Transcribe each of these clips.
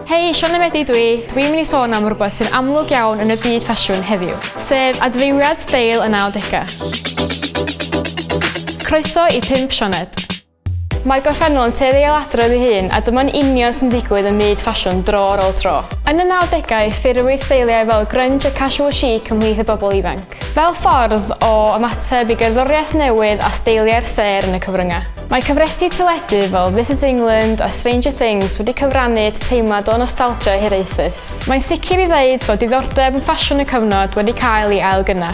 Hei, Sian Emedi dwi. Dwi'n mynd i sôn am rhywbeth sy'n amlwg iawn yn y byd ffasiwn heddiw, sef adfeiriad steil y 90au. Croeso i 5 Sioned. Mae gorffennol yn tueddu ei adrodd ei hun a dyma'n union sy'n digwydd yn myd ffasiwn dro ar ôl tro. Yn y 90au, ffurfwyd steiliau fel grunge a casual chic ymhlith y bobl ifanc. Fel ffordd o ymateb i gerddoriaeth newydd a steiliau'r sêr yn y cyfryngau, mae cyfresi teledu fel This Is England a Stranger Things wedi cyfrannu at y teimlad o nostalgia hiraethus. Mae'n sicr i ddeud fod diddordeb yn ffasiwn y cyfnod wedi cael ei ailgynna.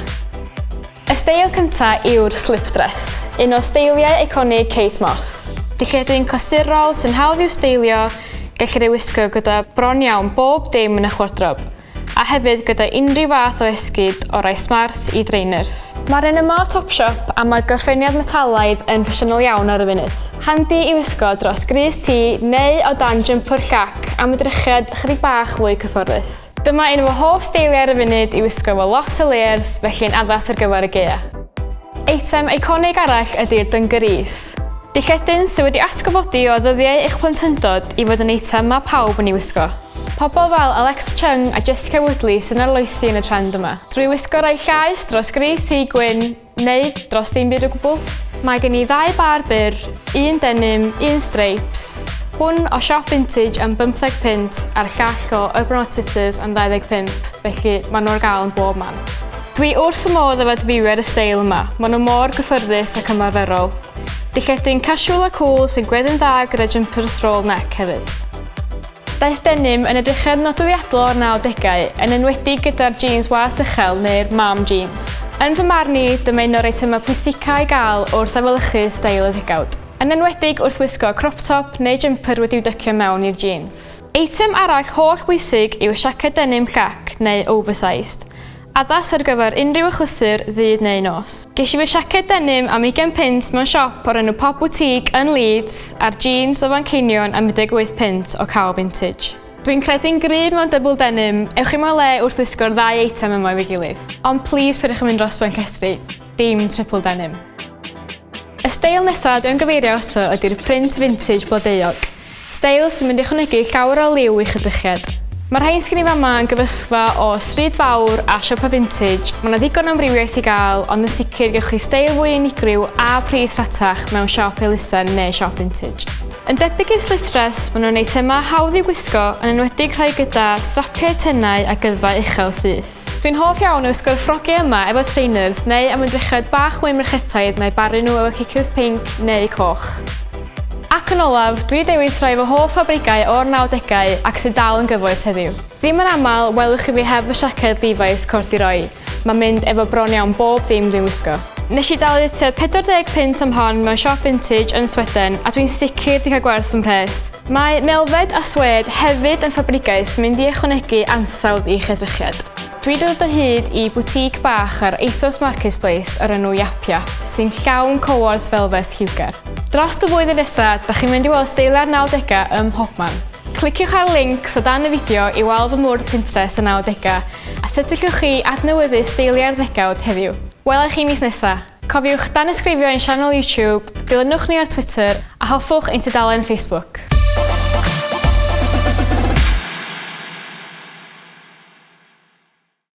Y steil cyntaf yw'r slip dress, un o steiliau eiconig Kate Moss. Dillledyn clasurol sy'n hawdd i'w steilio, gellir ei wisgo gyda bron iawn bob dim yn eich wardrob. a hefyd gyda unrhyw fath o esgid o rai smart i drainers. Mae'r un yma o Topshop a mae'r gorffeniad metalaidd yn ffasiynol iawn ar y funud. Handi i wisgo dros grys ti neu o dan jympwr llac am y drychiad ychydig bach fwy cyfforddus. Dyma un o fy hoff steiliau ar y funud i wisgo efo lot o layers felly yn addas ar gyfer y gaeaf. Eitem eiconig arall ydi'r dyngarees. Dilledyn sydd wedi atgyfodi o ddyddiau eich plentyndod i fod yn eitem mae pawb yn ei wisgo. Pobl fel Alex Chung a Jessica Woodley sy'n arloesi yn y trend yma. Drwy wisgo rhai llaeth dros gris i gwyn, neu dros dim byd o gwbl. Mae gen i ddau bâr byr, un denim, un streips, hwn o siop vintage am 15 punt a'r llall o Urban Outfitters am 25, felly maen nhw ar gael yn bob man. Dwi wrth y modd efo adfywio'r y steil yma, maen nhw mor gyffyrddus ac ymarferol. Dilledi'n casual a cool sy'n gweddu'n dda gyda jumpers roll neck hefyd. Daeth denim yn edrychedd nodweddiadol o'r nawdegau, yn enwedig gyda'r jîns was uchel neu'r mom jeans. Yn fy marn i, dyma un o'r eitemau pwysicaf i gael wrth efelychu steil y ddegawd, yn enwedig wrth wisgo crop top neu jympyr wedi'w dycio mewn i'r jîns. Eitem arall holl bwysig yw'r siaced denim llac neu oversized. Addas ar gyfer unrhyw achlysur ddydd neu nos. Ges i fy siaced denim am ugain punt mewn siop o'r enw Pop Boutique yn Leeds a'r jîns o Fanceinion am 18 punt o Kao Vintage. Dwi'n credu'n gryf mewn dybl denim, ewch i moel le wrth wisgo'r ddau eitem yma efo'i gilydd. Ond plîs peidiwch yn mynd dros ben llestri, dim triple denim. Y steil nesa dwi am gyfeirio ato ydi'r print vintage blodeuog. Steil sy'n mynd i ychwanegu llawer o liw i'ch edrychiad. Mae rhain sgen i fama yn gyfysgfa o stryd fawr a siopa vintage, mae 'na ddigon o amrywiaeth i gael ond yn sicr gewch chi steil fwy unigryw a pris rhatach mewn siop elusen neu siop vintage. Yn debyg i'r slip dress, maen nhw'n eitemau hawdd i'w gwisgo, yn enwedig rhai gyda strapiau tenau a gyddfau uchel syth. Dwi'n hoff iawn o wisgo'r ffrogiau yma efo trainers neu ymedrychod bach mwy merchetaidd na'u baru nhw efo ciciws pinc neu coch. Ac yn olaf, dwi 'di dewis rhai fy hoff fabrigau o'r nawdegau ac sydd dal yn gyfoes heddiw. Ddim yn aml welwch chi fi heb fy siaced Levi's corduroi, mae'n mynd efo bron iawn bob dim dwi'n wisgo. Nes i dalu tua 40 punt am hon mewn siop vintage yn Sweden a dwi'n sicr 'di cael gwerth fy mhres. Mae Melfed a Swêd hefyd yn ffabrigau sy'n mynd i ychwanegu ansawdd i'ch edrychiad. Dwi dod o hyd i boutique bach ar ASOS Marketplace o'r enw Yap Yap sy'n llawn cowors felfet lliwgar. Drost y flwyddyn nesa, da chi'n mynd i weld steiliau'r nawdega ym mhobman. Cliciwch ar y lincs o dan y fideo i weld fy mwrdd Pinterest y nawdega a sut y llwch chi adnewyddu steiliau'r ddegawd heddiw. Wela i chi mis nesa! Cofiwch danysgrifio ein sianel YouTube, dilynwch ni ar Twitter a hoffwch ein tudalen Facebook.